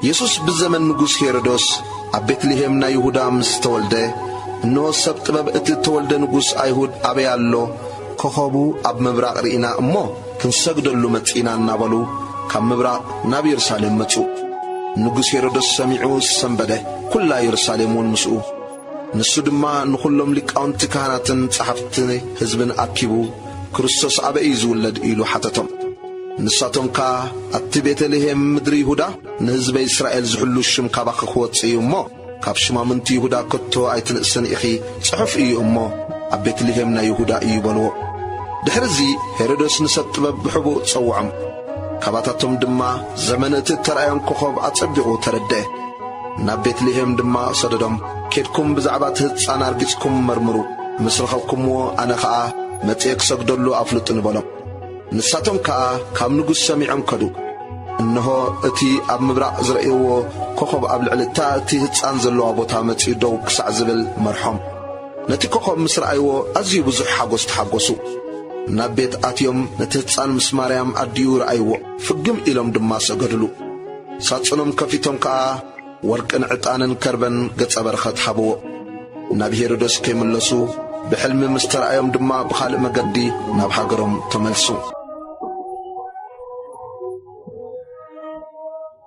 የሱስ ብዘመን ንጉስ ሄሮዶስ ኣብ ቤትልሄም ናይ ይሁዳ ምስ ተወልደ፣ እንሆ ሰብ ጥበብ እቲ እተወልደ ንጉስ ኣይሁድ ኣበይ ኣሎ? ኮኸቡ ኣብ ምብራቕ ርኢና እሞ ክንሰግደሉ መጺእና እናበሉ ካብ ምብራቕ ናብ የሩሳሌም መጹ። ንጉስ ሄሮዶስ ሰሚዑ ሰምበደ፣ ኵላ የሩሳሌም እውን ምስኡ። ንሱ ድማ ንዅሎም ሊቃውንቲ ካህናትን ጸሓፍቲ ህዝብን ኣኪቡ፣ ክርስቶስ ኣበይ እዩ ዝውለድ? ኢሉ ሓተቶም። ንሳቶም ከኣ፣ ኣብቲ ቤተ-ልሄም ምድሪ ይሁዳ ንህዝበይ እስራኤል ዝሕሉ ሽም ካባኺ ክወጽእ እዩ እሞ፣ ካብ ሹማምንቲ ይሁዳ ከቶ ኣይትንእስን ኢኺ፣ ጽሑፍ እዩ እሞ፣ ኣብ ቤት-ልሄም ናይ ይሁዳ እዩ በልዎ። ድሕርዚ ሄሮድስ ንሰብ ጥበብ ብሕቡእ ጸውዖም። ካባታቶም ድማ ዘመን እቲ እተራእዮም ኮኾብ ኣጸቢቑ ተረድኤ። ናብ ቤት ልሄም ድማ ሰደዶም፣ ኬድኩም ብዛዕባ እቲ ህጻን ኣርጊጽኩም መርምሩ፣ ምስ ረኸብኩምዎ ኣነ ኸኣ መጺኤ ክሰግደሉ ኣፍልጡኒ በሎም። ንሳቶም ከኣ ካብ ንጉስ ሰሚዖም ከዱ። እንሆ፣ እቲ ኣብ ምብራቕ ዝረእይዎ ኮኾብ ኣብ ልዕሊ እታ እቲ ህጻን ዘለዋ ቦታ መጺኡ ደው ክሳዕ ዝብል መርሖም። ነቲ ኮኾብ ምስ ረኣይዎ ኣዝዩ ብዙሕ ሓጐስ ተሓጐሱ። ናብ ቤት ኣትዮም ነቲ ህጻን ምስ ማርያም ኣዲኡ ረኣይዎ፣ ፍግም ኢሎም ድማ ሰገዱሉ። ሳጹኖም ከፊቶም ከኣ ወርቅን ዕጣንን ከርበን ገጸ በረኸት ሃብዎ። ናብ ሄሮዶስ ከይምለሱ ብሕልሚ ምስ ተራእዮም ድማ ብኻልእ መገዲ ናብ ሃገሮም ተመልሱ።